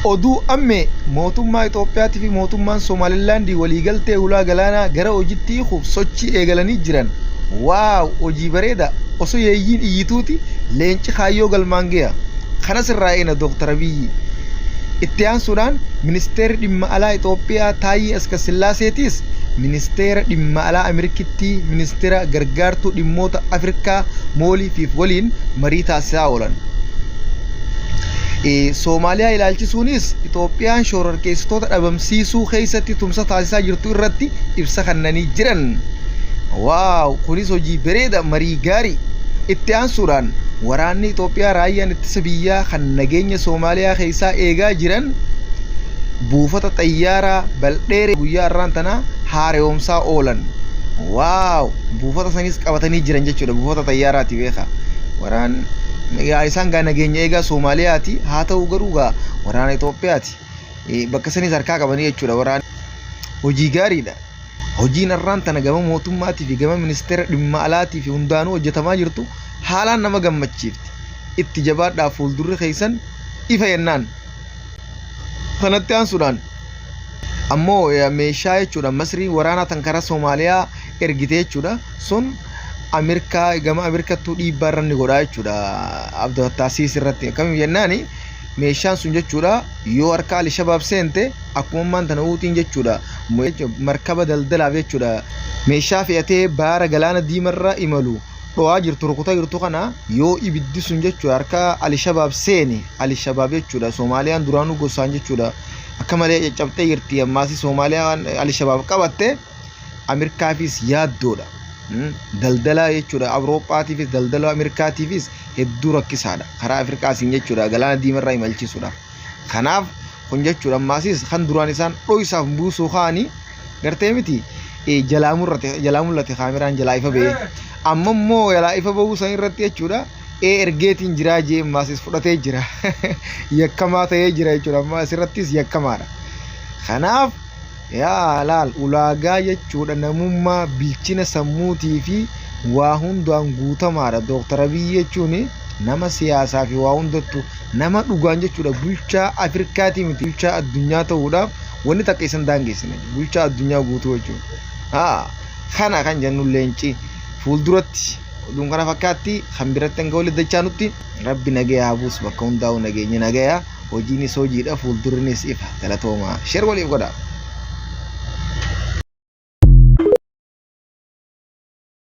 Oduu, Ammee, Mootummaa Itoophiyaati fi Mootummaan Somaalilaandi waliigaltee hulaa galaanaa gara hojitti hiikuuf sochii eegalanii jiran Wow hojii bareeda Osoo yeeyyiin iyyituuti leenci kaayyoo galmaan geha Kanas irraa eegna Dooktar Abiyyi Itti aansuudhaan Ministeerri Dhimma Alaa Itoophiyaa Taayyee Askassillaaseetiis Ministeera Dhimma Alaa Amirkittii Ministira Gargaartuu Dhimmoota Afirkaa Moolii Fiif waliin marii taasisaa oolan. Soomaaliyaa ilaalchisuunis Itoophiyaan shororkeessitoota dhabamsiisuu keessatti tumsa taasisaa jirtu irratti ibsa kennanii jiran. Waaw kunis hojii bareeda marii gaarii. Itti aansuudhaan waraanni Itoophiyaa raayyaan ittisa biyyaa kan nageenya Soomaaliyaa keessaa eegaa jiran buufata xayyaaraa Baldheeree guyyaa har'aan tana haara'oomsaa oolan. Waaw buufata sanis qabatanii jiran jechuudha buufata xayyaaraati beekaa. Waraan Yaa isaan gaa nageenya eegaa Soomaaliyaati. Haa ta'u garuu gaa waraana Itoophiyaati. Bakka sanis harkaa qabanii jechuudha waraana. Hojii gaariidha. Hojiin har'aan tana gama mootummaatii fi gama ministeera dhimma alaatii fi hundaanuu hojjetamaa jirtu haalaan nama gammachiifti. Itti jabaadhaa fuuldurri keessan ifa yennaan. Kanatti aansuudhaan ammoo meeshaa jechuudha masrii waraanaa tan karaa Soomaaliyaa ergite jechuudha. Sun Ameerikaa gama Ameerikattuu dhiibbaa irra ni godhaa jechuudha Abdul Fattah Siis irratti akkamiin jennaan meeshaan sun jechuudha yoo harka Ali Shabaab seente akkuma ammaan tana uutiin jechuudha markaba daldalaaf jechuudha meeshaa fe'atee baara galaana diimarra imalu dho'aa jirtu rukutaa jirtu kana yoo ibiddi sun jechuudha harka Ali Shabaab seeni Ali Shabaab jechuudha Soomaaliyaan duraanuu gosaan jechuudha akka malee caccabxee jirti ammaas Soomaaliyaan Ali Shabaab qabatte. Ameerikaafis yaaddoodha. Daldalaa jechuudha Awurooppaatiifis daldalaa Ameerikaatiifis hedduu rakkisaadha. Karaa Afrikaasiin jechuudha galaana diimarraa imalchiisuudhaaf. Kanaaf kun jechuudha ammaasis kan duraan isaan dho'isaaf buusuu kaanii gartee miti jalaa mul'ate kaameraan jalaa ifa ba'ee. Amma immoo jalaa ifa ba'uu san irratti jechuudha ee ergeetiin jiraa jee ammaasis fudhatee jira. Yakkamaa ta'ee jira jechuudha ammaa asirrattis yakkamaadha. Kanaaf Yaa laal ulaagaa jechuudha namummaa bilchina sammuutii fi waa hundaan guutamaadha. Dooktar Abiyyi jechuun nama siyaasaa fi waa hundattu nama dhugaan jechuudha bulchaa Afirkaatii miti bulchaa addunyaa ta'uudhaaf wanni takka isan daangeessine bulchaa addunyaa guutuu jechuudha. Haa kana kan jennu leenci fuulduratti oduun kana fakkaatti kan biratti hanga walitti dachaanutti rabbi nagaya haa buusu bakka hundaa'u nageenyi nagaya. Hojiinis hojiidha fuuldurrinis ifa. Galatoomaa. Share waliif godhaa.